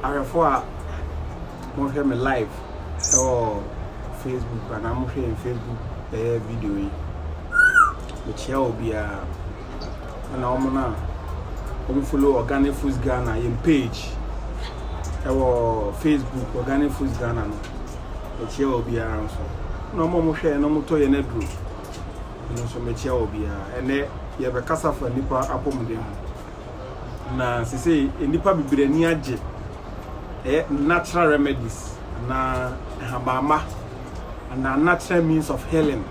ahwɛfo a mohwɛ me live ɛwɔ facebook anaa mohwɛ yɛn facebook ɛyɛ video yi mekyia obiara na wɔn no a wɔn follow organic foods ghana yɛn page ɛwɔ facebook organic foods ghana no ɛkyia wɔ biara nso na wɔn a wɔn hwɛ na wɔn tɔ yɛn aduro ɛno nso mɛkyia wɔ biara ɛnɛ yɛbɛkasa fa nipa apɔmuden ho na sese nipa bebree ani agye ɛyɛ natural remedies na ɛhabamma na natural means of healing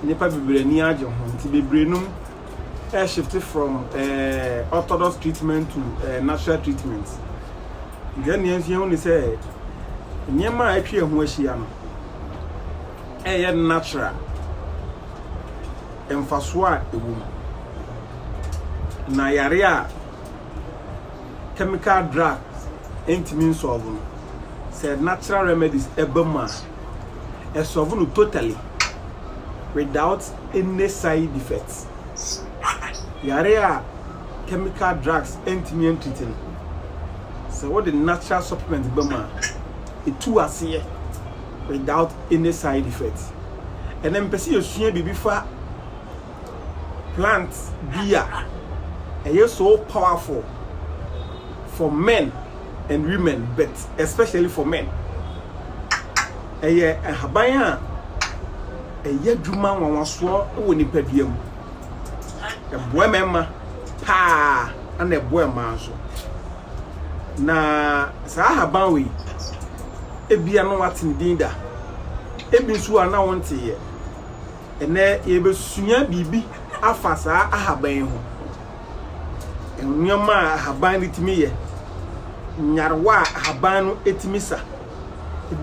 Nnipa bebree ani agye ho nti bebree nom ɛ shifte from ɛ orthodox treatment to ɛ natural treatment. Nti ɛnea nso yɛn ho ne sɛ nneɛma a atwa yɛn ho ahyia no ɛyɛ natural mfasoɔ a ɛwɔ mu na yare a chemical drugs ntumi nsɔlvo no sɛ natural remedies ɛba mu a ɛsɔlve no totally without any side effects. Yare a chemical drugs ntumi antreat no, sɛ wode natural supplement ba mu a, ɛtu aseɛ without any side effects. Ɛnɛ mepɛ sɛ yɛsua biribi fa plant bi a ɛyɛ so powerful for men and women but especially for men. Ɛyɛ nhaban a ɛyɛ adwuma nwanwasoɔ wɔ nipadua mu. Ɛboa mmarima paa ɛna ɛboa mmaa nso. Na saa ahaban wei ebia na wate ne din da, ebi nso a na wonteeɛ. Ɛnnɛ, yɛrebɛsua biribi afa saa ahaban yi ho, nneɛma a ahaban no tumi yɛ, nyarewa a ahaban no tumi sa.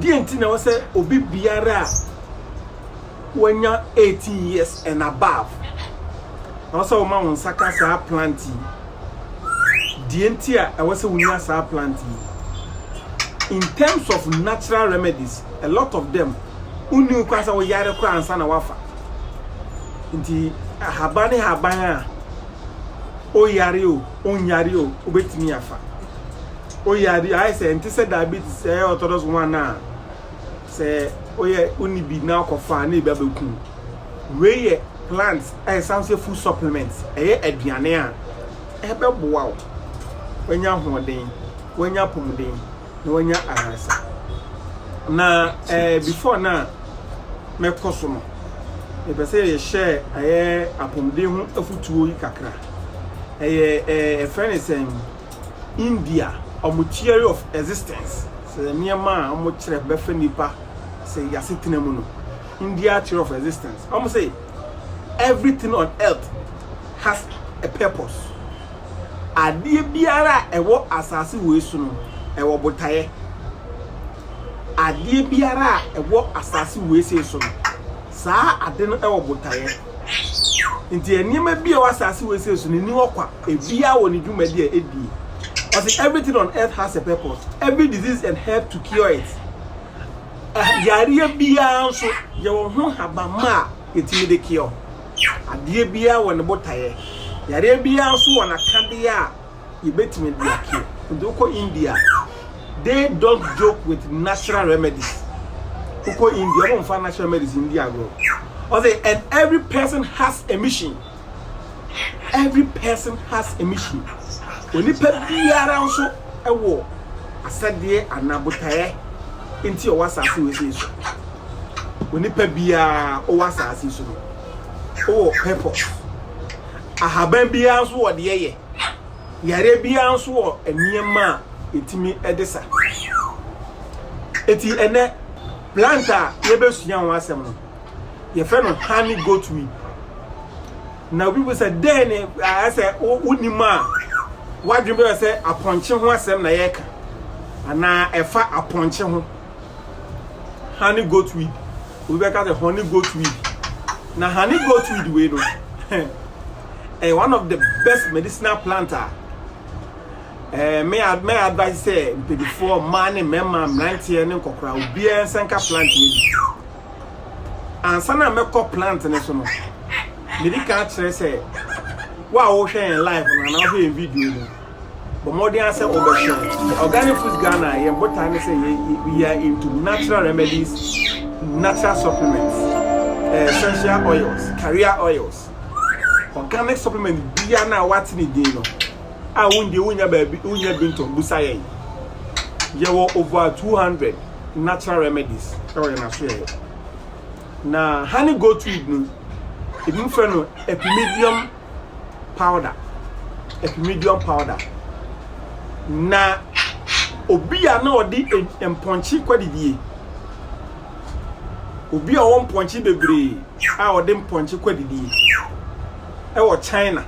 Deɛ nti na ɛwɔ sɛ obi biara a wanya 18 years and above, ɛwɔ sɛ woma wo nsa ka saa plant yi. Deɛ nti a ɛwɔ sɛ wonya saa plant yi. In terms of natural remedies, a lot of them wonni ho kwan sɛ woyare koraa ansa na woafa. Nti ahaban ne haban a oyare o, onyare o, wobɛtumi afa. Oyare ayɛ sɛ ɛnte sɛ diabetes ɛyɛ orthodox one a sɛ woyɛ wonni bi na wokɔfa a na ebi abɛkum. Wei yɛ plant a ɛsan sɛ food supplement, ɛyɛ aduane a ɛbɛboa wo, woanya ahoɔden, woanya apɔmuden. na wanya aransa na ɛɛ eh, before na mɛkɔ so no mepɛ sɛ yɛhyɛ ɛyɛ apɔmuden ho afutuo yi kakra ɛyɛ ɛɛ ɛfrɛ ne sɛn india ɔmo theory of existence sɛ nneɛma a ɔmo kyerɛ bɛfɛ nipa sɛ yasetena mu no india theory of existence ɔmo sɛ everything on earth has a purpose Adeɛ biara a ɛwɔ asase wei so no, ɛwɔ botaeɛ. Adeɛ biara a ɛwɔ asase wei sei so no, saa ade no wɔ botaeɛ. Nti nneɛma bi a ɛwɔ asase wei sei so no, ɛni hɔ kwa. Ebiara wɔ ne dwumadi a ɛdie. Ɔse everything on earth has a purpose. Every disease and herb to cure it. Yareɛ biara nso, yɛwɔ ho nhabamma a yɛtumi de cure. Adeɛ biara wɔ ne botaeɛ. Yareɛ biara nso wɔ n'akadeɛ a yɛbɛtumi de akeɛ. Nti wokɔ India a, they don't joke with natural remedies. Wokɔ India, wɔn mfa natural remedies ndi agorɔ. Ɔsɛ, and every person has a mission. Every person has a mission. Onipa biara nso wɔ asɛdeɛ anaa botaeɛ nti ɔwɔ asase wei sɛ so. Onipa biara ɔwɔ asase so no, ɔwɔ purpose. Ahaban biara nso wɔ deɛ yɛ. Yareɛ biara nso wɔ nneɛma a ɛtumi de sa. Eti ɛnɛ plant a yɛbɛsua ho asɛm no, yɛfrɛ no honey goat weed. Na obi bu sɛ dɛn ne ayɛ sɛ wonim a wadwen bɛyɛ sɛ apɔnkye ho asɛm na yɛreka anaa ɛfa apɔnkye ho. honey goat weed obi bɛka sɛ honey goat weed na honey goat weed wei no ɛyɛ one of the best medicinal plant a ɛɛ mɛ mɛ advice sɛ mpanyinfoɔ mmaa ne mmarima mmeranteɛ ne nkɔkora obiara nsa nka plant wei bi ansa na mɛkɔ plant ne so no mede ka akyerɛ sɛ wo a wohwɛ yɛn live no anaa wohwɛ yɛn video no Bɔ mmɔden ara sɛ wobɛhwɛ. Organic Foods Ghana, yɛn botae ne sɛ we are into natural remedies, natural supplements, eh, essential oils, carrier oils. Organic supplement biara na wate ne din no, a wondie wonya baabi wonya bi ntɔ busa yɛn. Yɛwɔ over 200 natural remedies ɛwɔ yɛn aso yɛyɛ. Na honey goat weed no, ebi frɛ no epimedium powder, epimedium powder. Na obi a na ɔde e- mpɔnkye kwadidie, obi a ɔwɔ mpɔnkye bebree a ɔde mpɔnkye kwadidie ɛwɔ China.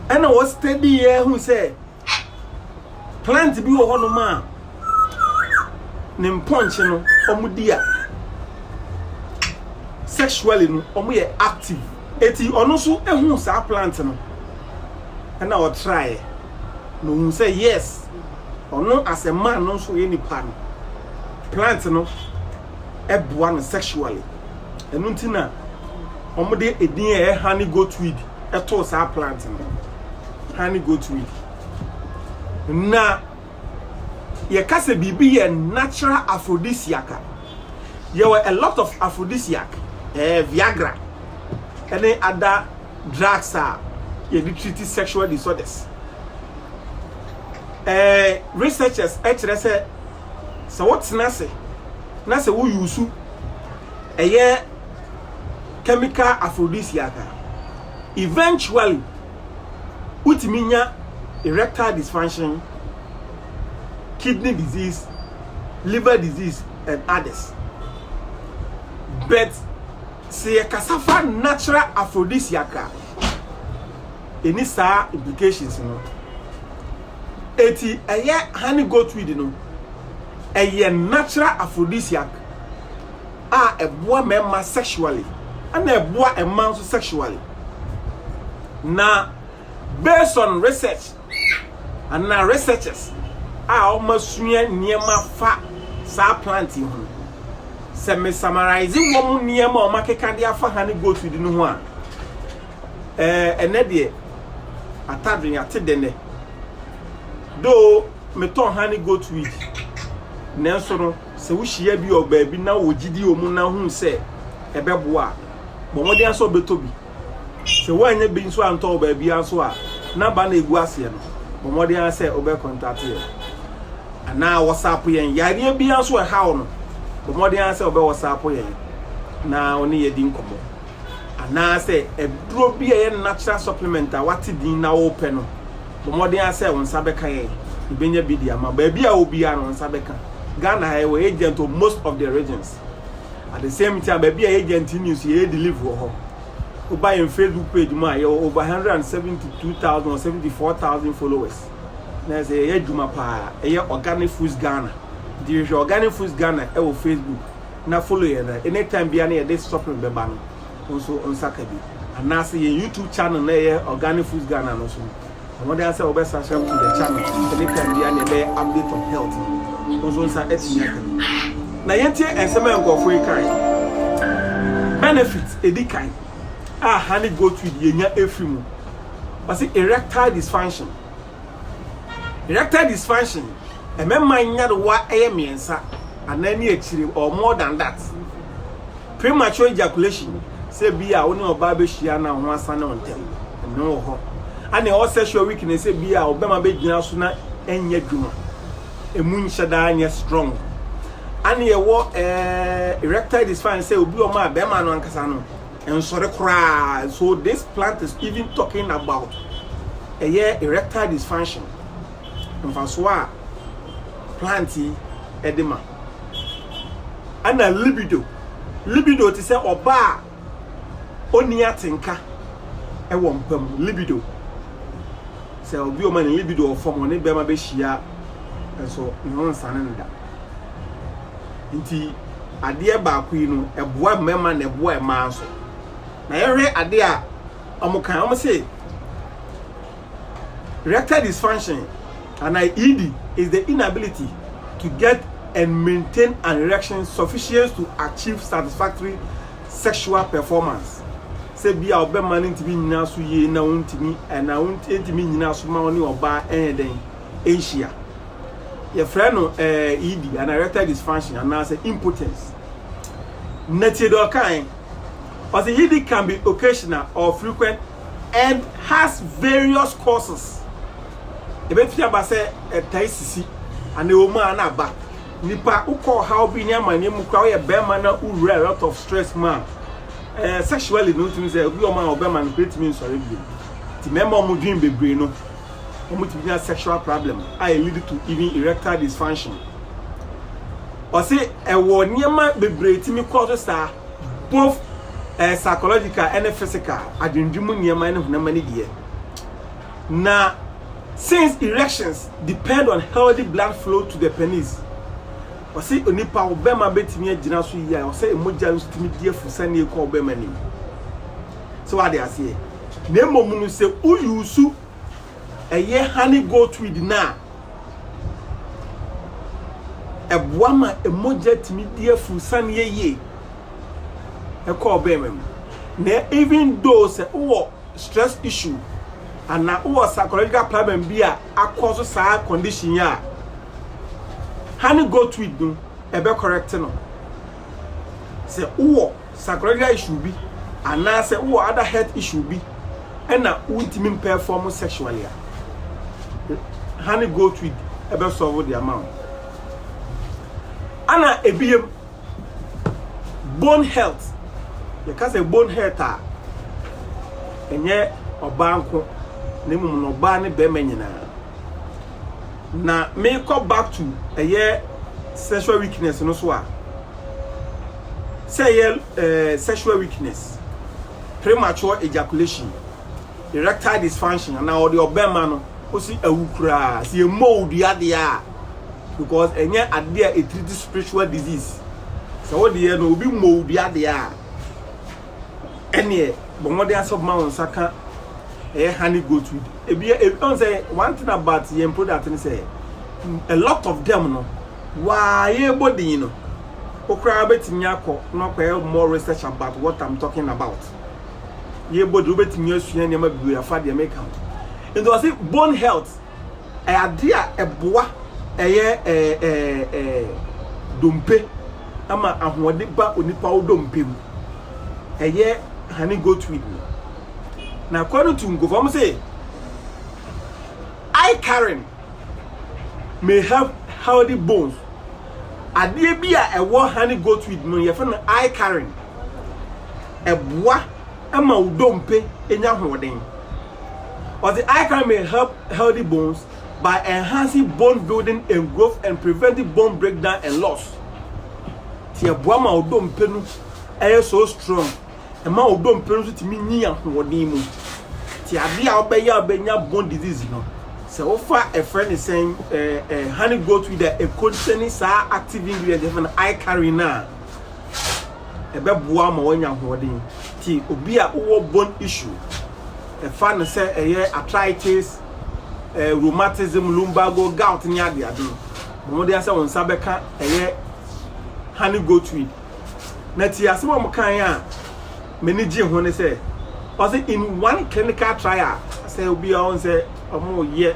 Ɛna wɔ steady yɛ hu sɛ Plant bi wɔ hɔnom a ne mpɔnkye no wɔn di a sexually no wɔn yɛ active. Eti ɔno nso ehu saa plant no ɛna ɔtraeɛ na ohun sɛ yes ɔno as a man no nso yɛ nipa no plant no ɛboa no sexually. Ɛno nti na wɔn de edin a ɛyɛ honey goatweed too saa plant no honey goat weed na yɛka sɛ biribi yɛ natural aphrodisiac a yɛwɔ a lot of aphrodisiac eh, viagra ɛne ada drugs a yɛde treat sexual disorders eh, researchers kyerɛ sɛ sɛ wotena ase na sɛ woyusu ɛyɛ chemical aphrodisiac a, eventually wotumi nya erectile dysfunction, kidney disease, liver disease and others. But sɛ yɛkasa fa natural aphrodisiac a, ɛni saa implications no. Eti ɛyɛ honey goatweed no, ɛyɛ natural aphrodisiac. a ɛboa mmarima sexually ɛna ɛboa mmaa nso sexually na based on research ana researchers a wɔasua nneɛma fa saa plant yi ho sɛ me summarize wɔn nneɛma a wɔakeka de afa ha ne goat di no ho a ɛɛ ɛnɛ deɛ atadwen ate dɛnɛ do metɔn ha ne goat weed nanso no Sɛ wohyia bi wɔ baabi na wɔ gyidi wɔ mu na hu sɛ ɛbɛboa a, bɔ mmɔden ara sɛ wobɛtɔ bi. Sɛ woannya bi nso antɔ wɔ baabiara nso a, na ba na ɛgu aseɛ no, bɔ mmɔden ara sɛ wobɛkɔntate yɛn. Anaa wɔsapo yɛn yareɛ biara nso a ɛhaw no, bɔ mmɔden ara sɛ wobɛwɔsapo yɛn na wo ne yɛn adi nkɔmmɔ. anaasɛ aduro bi a ɛyɛ natural supplement a wate din na wopɛ no, bɔ mmɔden ara sɛ wo nsa bɛka yɛn. Yɛbɛnya bi de ama. Baabi a obiara no, wo nsa bɛka. Ghana ha yɛwɔ agent wɔ most of the regions. At the same time, baabi a agent ni nso yɛyɛ deliver wɔ hɔ. Woba yɛn Facebook page mu a yɛwɔ over 172,000 or 74,000 followers. Na ɛsɛ yɛyɛ adwuma paa. Ɛyɛ Organic Foods Ghana. Nti hwehwɛ Organic Foods Ghana wɔ Facebook. na follow yɛn na any time biara na yɛde supplement bɛba no wo nso wo nsa ka bi anaasɛ yɛn youtube channel na ɛyɛ organic foods ghana no so no ɛmɔden asɛ wɔbɛ subscribe to the channel any time biara na yɛbɛyɛ update on health no wo nso nsa atumi aka bi na yɛntie nsɛm a nkurɔfoɔ yi kae benefit ɛdi kan a honey goat weed yɛnya ɛfiri mu wɔse erectile dysfunction Erectile dysfunction, Mmarima nyarewa yɛ mmiɛnsa, anan ne akyire, or more than that. Premature ejaculation, Sɛ ebia wo ne ɔbaa bɛhyia na wo ho asane wo ntɛm, ɛno wɔ hɔ. Ɛne all sexual weakness, Sɛ ebia ɔbarima bɛgyina so na ɛnyɛ adwuma, ɛmu nhyɛ da nyɛ strong. Ɛne ɛwɔ eh, erectile dysfunction, Sɛ obi ɔma a, barima no ankasa no, ɛnsɔre koraa so this plant is even talking about ɛyɛ erectile dysfunction mfasoɔ a plant yi ɛde ma ɛna libido libido te sɛ ɔbaa a ɔnni atenka ɛwɔ mpa mu libido sɛ obi ɔma ne libido ɔfam ɔne bɛrima bɛhyia nso ne ho nsane no da Nti adeɛ baako yi no ɛboa mmarima na ɛboa mmaa nso. Na yɛhwɛ adeɛ a wɔn kan wɔn se erectile dysfunction and ED is the inability to get and maintain an erection sufficient to achieve satisfactory sexual performance. Sɛ bi a ɔbɛma no ntumi nyina so yie na ɔntumi ɛna ɔntumi nyina so ma ɔne ɔbaa ɛyɛ dɛn. nhyia. Yɛfrɛ no eh, ED anaa erectile dysfunction anaasɛ impotence. Na tie deɛ ɔkae. Ɔse ED can be occasional or frequent and has various causes. Ɛbɛtumi aba sɛ ɛtae sisi anaa ɛwɔ mu a na aba. Nipa wokɔ ɔhaw bi ne amanneɛ mu koraa woyɛ bɛrima na wowura a lot of stress mu a eh, sexually no wotumi sɛ obi ɔma ɔbɛma no koraa tumi nsɔre bio. Nti mmarima a wɔdwen bebree no wɔtumi nya sexual problem a e lead to even erectile dysfunction. Ɔse ɛwɔ nneɛma bebree tumi kɔ so saa both eh, psychological ɛne physical adwendwe mu nneɛma ɛne honam ani deɛ. Na since erections depend on healthy blood flow to the penis ɔse onipa ɔbɛma bɛtumi agyina so yie a ɔsɛ mogya no tumi di afu sɛnea ɛkɔ ɔbɛma nim. So wate aseɛ? Na mmom no, sɛ wo use ɛyɛ honey goat weed no a, ɛboa ma mogya tumi di afu saneɛ yie ɛkɔ ɔbɛrima mu. Na even though sɛ wowɔ stress issue anaa wowɔ psychological problem bi a akɔ so saa condition a honey goat weed no ɛbɛ correct no. Sɛ wowɔ Sacroiliac issue bi anaasɛ wowɔ other health issue bi na wontumi mperform sexually a, honey goat weed bɛ solve de ama wo. Ana ebiem, bone health, yɛka sɛ bone health a, ɛnyɛ ɔbaa nko na mmom no ɔbaa ne bɛrima nyinaa. na mekɔ back to ɛyɛ sexual weakness no so a sɛ ɛyɛ eh, sexual weakness premature ejaculation erectile dysfunction anaa ɔde ɔbɛma no kosi awu koraa sɛ yɛ mold adeɛ a because ɛnyɛ adeɛ a ɛtiriti spiritual disease sɛ wodeɛ no obi mold adeɛ a ɛneɛ bɔ mmɔden ara sɛ wobɛma wo nsa ka ɛyɛ honey goat weed ebi ɔn sɛ one thing about yɛn product no sɛ a lot of them no waa yɛbɔ din no wokoraa wobɛtumi akɔ na wakɔyɛ more research about what I'm talking about yɛbɔ din wobɛtumi asua nneɛma bebree afa deɛ meka ho nti ɔse bone health Ɛyɛ adeɛ a ɛboa ɛyɛ dompe ɛma ahoɔde ba onipa wo dompe mu. Ɛyɛ honey goat weed no. Na ɛkɔ no tu nkofo ɔmo se eye Karen may have healthy bones. Adeɛ bi a ɛwɔ honey goat weed no yɛfrɛ no eye Karen. Ɛboa ɛma wo dompe enya ahoɔden. Ɔdze iCarmine help healthy bones by enhancing bone building and growth and preventing bone breakdown and loss. Ti ɛboa ma wo dompe no ɛyɛ so strong, ɛma wo dompe no so tumi nyin ahoɔden mu. Ti adeɛ a wobɛyɛ a wobɛnya bone disease no, sɛ wofa ɛfrɛ ne sɛn, eh, eh, honey goat weed a ɛcontain saa active ingredient ɛfrɛ no iCarine a, ɛbɛboa ama wanya ahoɔden nti obi a wowɔ bone issue ɛfa no sɛ ɛyɛ arthritis eh, rheumatism lumbago gout ne ade ade bɔmmɔden asɛ wo nsa bɛka ɛyɛ honey goat weed na ti asɛm a wɔkan a m'ani gye ho ne sɛ ɔsɛ in one clinical trial sɛ obi a ɔn sɛ ɔmo yɛ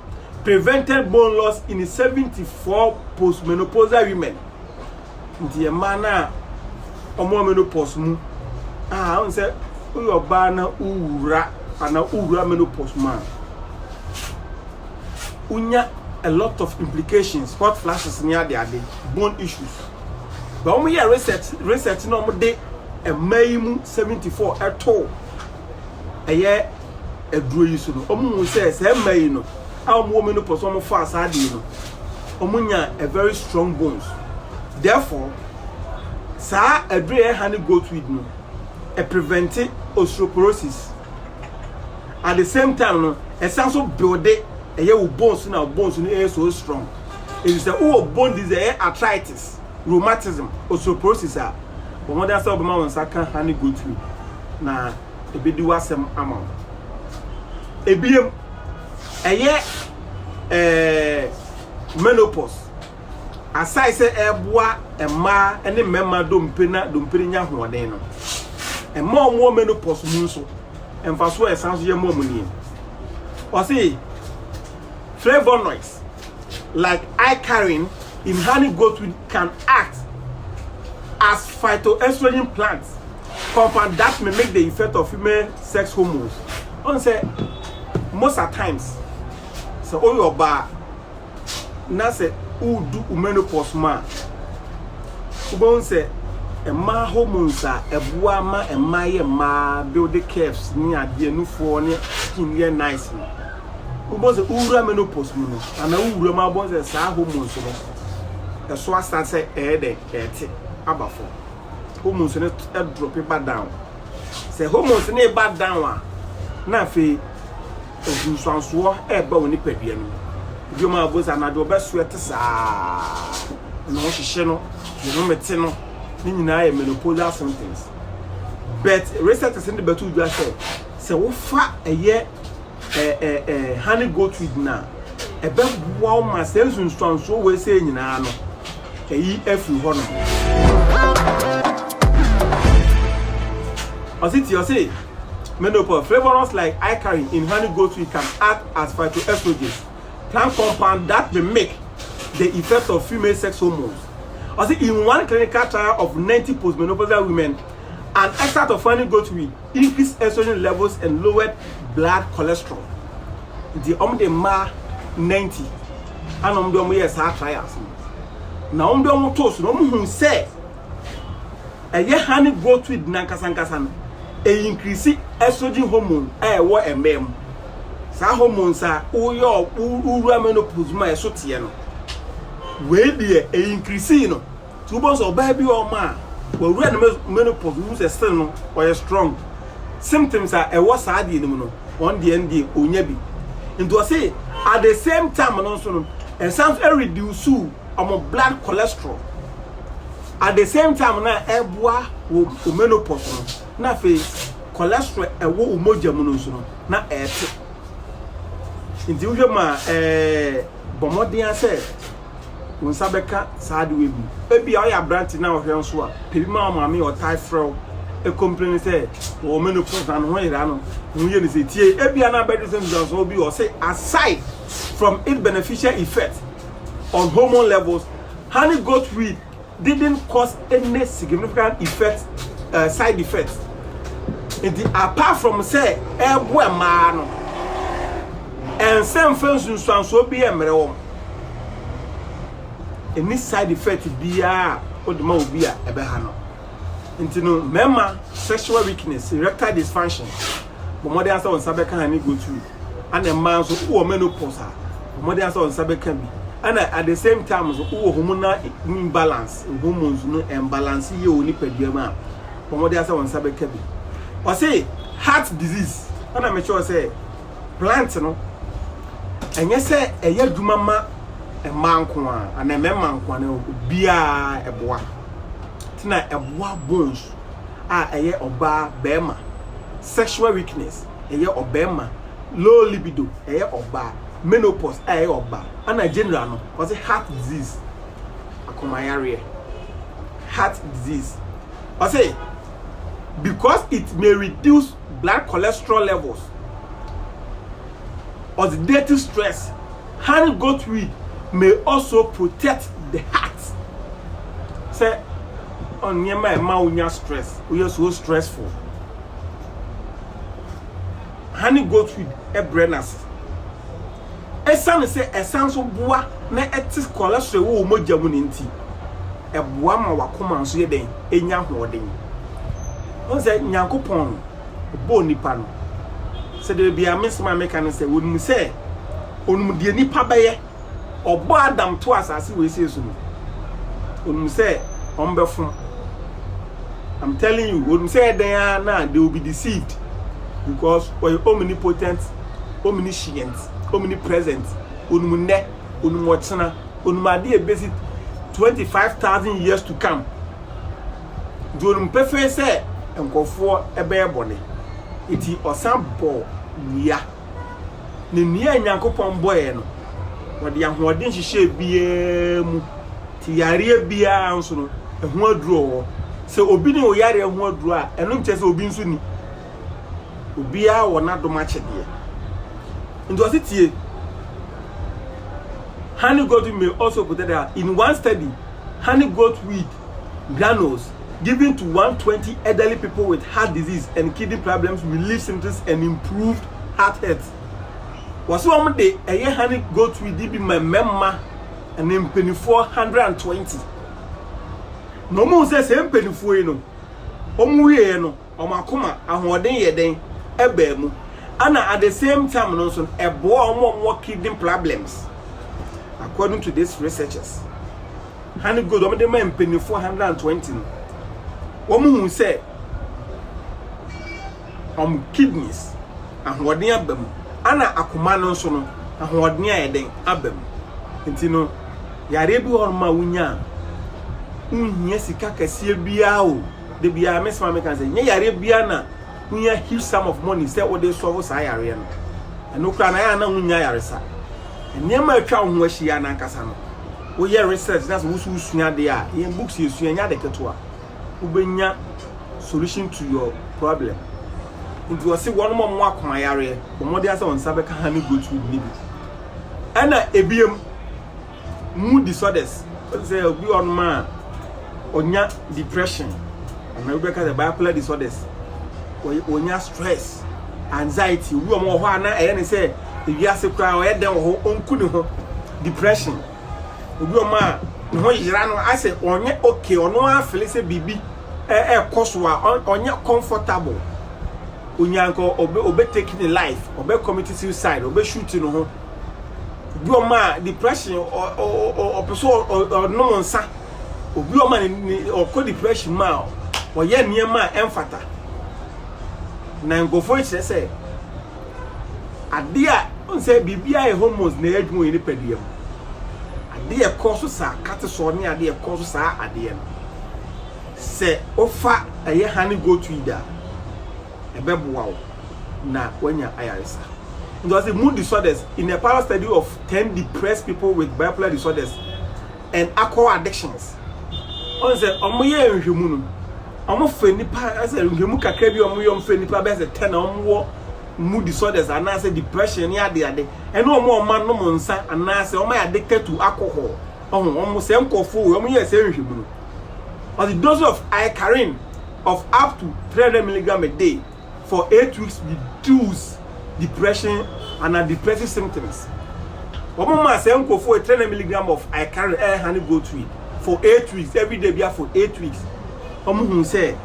prevented bone loss in 74 postmenopausal women nti yɛ mmaa no a wɔn menopause mu a wɔn sɛ woyɛ ɔbaa na wowura ana wowura menopause mu a wonya a lot of implications hot flashes ne ade ade bone issues ba wɔn yɛ research research na wɔn de mmaa yi mu 74 ɛto ɛyɛ. aduro yi so no, wɔn mu sɛ saa mma yi no a wɔn wɔ mu no pɔ so wɔn fa saa de yi no, wɔn nya a very strong bones. Therefore, saa aduro yɛ honey goat weed no, ɛ prevent osteoporosis. At the same time no, ɛsan so build ɛyɛ wo bones na bones no ɛyɛ so strong. Ɛti sɛ wowɔ bone disease ɛyɛ arthritis, rheumatism, osteoporosis a, wɔn de asɛ wɔbɛma wɔn nsa ka honey goat weed na. ebedi w'asɛm ama wo. Ebiem, ɛyɛ ɛɛ menopause, asae sɛ ɛreboa mmaa ne mmarima dompe na dompe nya ahoɔden no. Mmaa a wɔwɔ menopause mu nso, mfasoɔ a ɛsan so yɛ mmaa mu nie. Ɔse flavonoids like icarin in honey goatweed can act as phytoestrogen plants Compound that mimic the effect of female sex hormones. On say most at times, so all your bar, na say who do menopause ma. Ubon say ɛma hormones a ɛboa ma ɛma yɛ mmaa build curves ne adeɛ nufoɔ ne skin yɛ nice no wobɔ sɛ wowura menopause mu no anaa wowura mu abɔ sɛ saa hormones no ɛso asa sɛ ɛyɛ dɛ ɛte aba fam hormones no drop ba down sɛ hormones no ba down a na afei nsunsuansoɔ ɛreba wo nipadua no mu dwom a wɔbɔ sɛ anadwo ɔbɛso ɛte saa na ɔhyehyɛ no ne no mete no ne nyinaa yɛ menopausal symptoms but researchers no de bɛto dwa sɛ sɛ wofa ɛyɛ eh, eh, eh, honey goat weed no a, ɛbɛboa wo ma saa nsunsuansoɔ wei sɛ nyinaa no, ɛyi afiri hɔ nom. Ɔse ti ɔse menopause flavorants like icarin in honey goat weed can act as phytoestrogens, plant compound that mimic the effects of female sex hormones. Ɔse in one clinical trial of 90 postmenopausal women, an extract of honey goat weed Increased estrogen levels and lowered blood cholesterol nti wɔn de mmaa ninety ana wɔn de wɔn yɛɛ saa trials no na wɔn de wɔn too so na wɔn hu sɛ ɛyɛ honey goat weed nankasa nkasa no ɛyi increase estrogen hormone a ɛwɔ mmaa mu saa hormones a woyɛ wowura menopause mu a ɛso teɛ no wei deɛ ɛyi increase no. Nti wobɛhu sɛ ɔbaa bi wɔ hɔ ma a wawura ne menopause wohu sɛ still no ɔyɛ strong symptoms a ɛwɔ saa deɛ no mu no ɔn deɛ no deɛ ɔnya bi nti ɔse at the same time no nso no ɛsan nso ɛreduce ɔmo blood cholesterol at the same time na ɛboa wo menopause no na afei cholesterol ɛwɔ wo mogya mu no nso no na ɛɛte nti wohwɛ mu a ɛɛ bɔmmɔden asɛ wo nsa bɛka saa adewa yi bi. Ebia ɔyɛ aberante na ɔhwɛ nso a, pɛ bi ma wo maame a ɔtaa frɛ wo ɛkɔmpleni sɛ wɔ menopause na ne ho yera no, ne ho yɛ ne sɛ tie. Ebia na abɛduru sɛ nsuansoɔ bi wɔ sɛ aside from its beneficial effect on hormone levels, honey goat weed didn't cause any significant effect uh, side effect nti apart from sɛ ɛboa mmaa no ɛnsɛ mfa nsunsuansoɔ bi yɛ mmerɛ wɔm ɛni side effect biara wode ma obi a ɛbɛha no nti no mmarima sexual weakness erectile dysfunction bɔmmɔden asɛ wɔn nsa bɛka ha ne go through Ana mmaa nso wowɔ menopause a wɔde asɛ wɔn nsa bɛka bi. Ana at the same time nso wowɔ hormonal imbalance, hormones no imbalance yie wɔ nipadua mu a wɔde asɛ wɔn nsa bɛka bi. Ɔse heart disease ana mekyerɛ sɛ plant no ɛnyɛ sɛ ɛyɛ adwuma ma mmaa nko a ana mmarima nko a na obiara ɛboa. Tina ɛboa bones a ɛyɛ ɔbaa bɛrima sexual weakness. ɛyɛ ɔbarima, low libido, ɛyɛ ɔbaa, menopause a ɛyɛ ɔbaa, ɛna general no, ɔse heart disease, akomayareɛ, heart disease. Ɔse, because it may reduce blood cholesterol levels, oxidative stress, honey goat weed may also protect the heart. Sɛ, ɔnneɛma a ɛma wonya stress, woyɛ so stressful. honey goatweed brɛ no ase. Esiane sɛ ɛsan nso boa na ɛte cholesterol wɔ wo mogya mu no nti, ɛboa ma w'akoma nso yɛ dɛn? Enya ahoɔden. Wohu sɛ Nyankopɔn no, ɔbɔɔ nnipa no sɛ da biara, me nsɛm a meka ne sɛ, onim sɛ onim deɛ nnipa bɛyɛ. Ɔbɔɔ Adam too asase wesie so no, onim sɛ ɔmbɛfom. I'm telling you, onim sɛ ɛdɛn a na they will be deceived because ɔyɛ omnipotent, omniscient, omnipresent. Onim nnɛ, onim ɔkyena, onim ade a ebesi 25,000 years to come. Nti onim pefee sɛ nkurɔfoɔ bɛyɛ bɔne. Nti ɔsan bɔɔ nnua. ne nea Nyankopɔn bɔeɛ no, wɔde ahoɔden hyehyɛɛ biara mu, te yareɛ biara nso no, ɛho aduro wɔ hɔ. Sɛ obi ne oyareɛ ho aduro a, ɛno nkyɛ sɛ obi nso ni. Obiara wɔ n'adom akyɛdeɛ. Nti ɔse tie. Honey goat may also protect the In one study, honey goat weed Granules given to one twenty elderly people with heart disease and kidney problems relieved symptoms and improved heart health. Wɔsi wɔn de ɛyɛ honey goat wheat di bi ma mmarima ne mpanimfoɔ hundred and twenty. Na wɔn sɛ sɛ mpanimfoɔ yi no wɔn wieɛ no. wɔn akoma ahoɔden yɛ dɛn baa mu ɛna at the same time no nso ɛboa wɔn a wɔwɔ kidney problems according to this researchers honey gold wɔn de ma mpanyinfoɔ 120 no wɔn hu sɛ wɔn kidneys ahoɔden aba mu ɛna akoma no nso no ahoɔden a yɛ dɛn aba mu nti no yareɛ bi wɔ hɔ ma wonya a wohia sika kɛseɛ biara o. da biara me soma me kan sɛ nyɛ yareɛ biara na wonya huge sum of money sɛ wode sɔfo saa yareɛ no ɛno koraa na yɛ ana wonya yaresa nneɛma atwa wo ho ahyia no ankasa no woyɛ research na sɛ woso wosua adeɛ a yɛn books yɛsua nya de ketewa wobɛnya solution to your problem nti ɔse wɔn mɔ mo akoma yareɛ bɔmmɔde asɛ wɔn nsa bɛka ha ne goat food ne bi ɛna ebiem Mood disorders, wode sɛ obi wɔ hɔnom a ɔnya depression, anaa obi bɛka sɛ bipolar disorders, ɔnya stress, anxiety, obi wɔ hɔ hɔ a na ɛyɛ ne sɛ ewiase koraa ɔyɛ dɛn wɔ hɔ, ɔnku ne ho, depression, obi wɔ hɔ a ne ho yera no asɛ ɔnyɛ okay, ɔno ara fele sɛ biribi ɛkɔ so a ɔnyɛ comfortable, onyanka ɔbɛ ɔbɛ take ne life, ɔbɛ commit suicide, ɔbɛ shoot ne ho. Obi ɔma depression ɔpɛ sɛ ɔnom nsa. Obi ɔma ne ɔkɔ depression mu a ɔyɛ nneɛma a ɛmfata. Na nkurɔfoɔ kyerɛ sɛ adeɛ a nsɛ biribiara yɛ hormones na ɛyɛ adwuma wɔ yɛn nipadua mu. Adeɛ a ɛkɔ so saa cortisol ne adeɛ a ɛkɔ so saa adeɛ no. Sɛ wofa ɛyɛ honey goat weed a. ɛbɛboa wo na woanya ayaresa. Nti ɔse mood disorders in a parallel study of ten depressed people with bipolar disorders and alcohol addictions. Ɔn sɛ ɔmo yɛ nhwɛmu no, ɔmo fɛ nipa ɛsɛ nhwɛmu kakra bi ɔmo yɛ ɔmo fɛ nipa bɛyɛ sɛ ten a ɔmo wɔ mood disorders anaasɛ depression ne ade ade ɛne ɔmo ɔmo anom nsa anaasɛ ɔmo ayɛ addicted to alcohol. ɔho wɔn sɛ nkurɔfoɔ wei wɔn yɛ sɛ nhwɛmu no ɔde dose of icarin of up to 300 milligram a day for eight weeks reduce depression ana depressive symptoms wɔn maa sɛ nkurɔfoɔ 300 milligram of icarin ɛha ne go to for eight weeks every day bia for eight weeks wɔn hu sɛ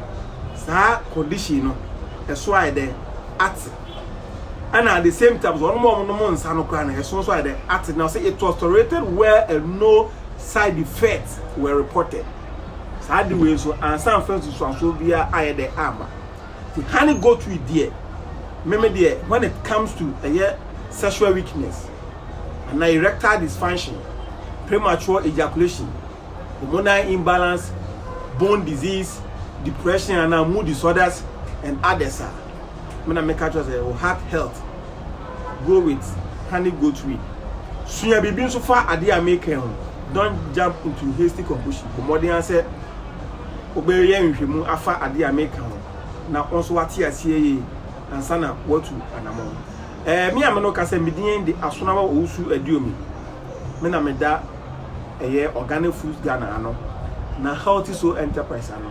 saa condition no ɛso ayɛ dɛ ate. ɛna at the same time so wɔn a wɔnom nsa no koraa no ɛso nso ayɛ dɛ ate na sɛ it was tolerated where a no side effects were reported saa de wei nso ansa nfa nsusuanso biara ayɛ dɛ ama the honey goat we deɛ meme deɛ when it comes to ɛyɛ sexual weakness ana erectile dysfunction premature ejaculation hormonal imbalance bone disease depression ana mood disorders and others a me na meka kyerɛ sɛ wo heart health go with honey goat weed sua biribi nso fa adeɛ a meka ho don't jump into hasty conclusion bɔ mmɔden ara sɛ wobɛyɛ nhwehwɛmu afa adeɛ a meka ho na wɔn nso wate aseɛ yie ansa na watu anamɔ ɛɛ me a me no ka sɛ medin de asonawa owusu aduomi me na meda ɛyɛ organic foods ghana ano na healthy soul enterprise ano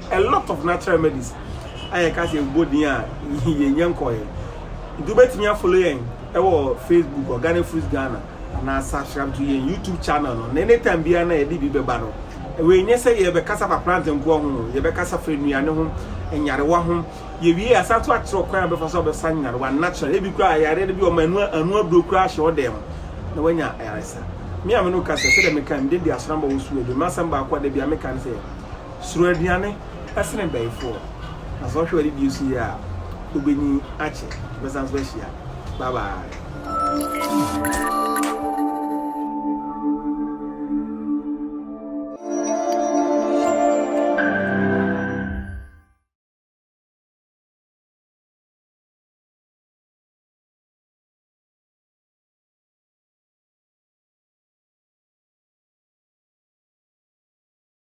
A lot of natural remedies a yɛka sɛ ɛbɔ din a yɛnyɛ nkɔɔɛ. Nti wobɛtumi a follow yɛn ɛwɔ Facebook Organic Fruits Ghana anaa subscribe to yɛn YouTube channel no na anytime biara na yɛde bi bɛba no. Wei nyɛ sɛ yɛbɛkasa fa plantain nkoa ho o, yɛbɛkasa fa nnuane ho, nyarewa ho. Yɛwie a asan so akyerɛ kwan a wobɛfa so a wobɛsa nyarewa natural. Ebi koraa ayareɛ no bi wɔ ma ɛno ɛno aduro koraa ahyɛ wo dan mu na wanya ayaresa. Me a me no kasa sɛdeɛ meka mede di asɔrɔmba wɔ su adwuma. M'asɛm baako a da biara meka ne sɛ Suro aduane sene bayifoɔ. Na sɛ ɔhwɛ wadidie so yie a ɔbɛnyin akyɛ. Yɛbɛsan so ahyia. Bye bye.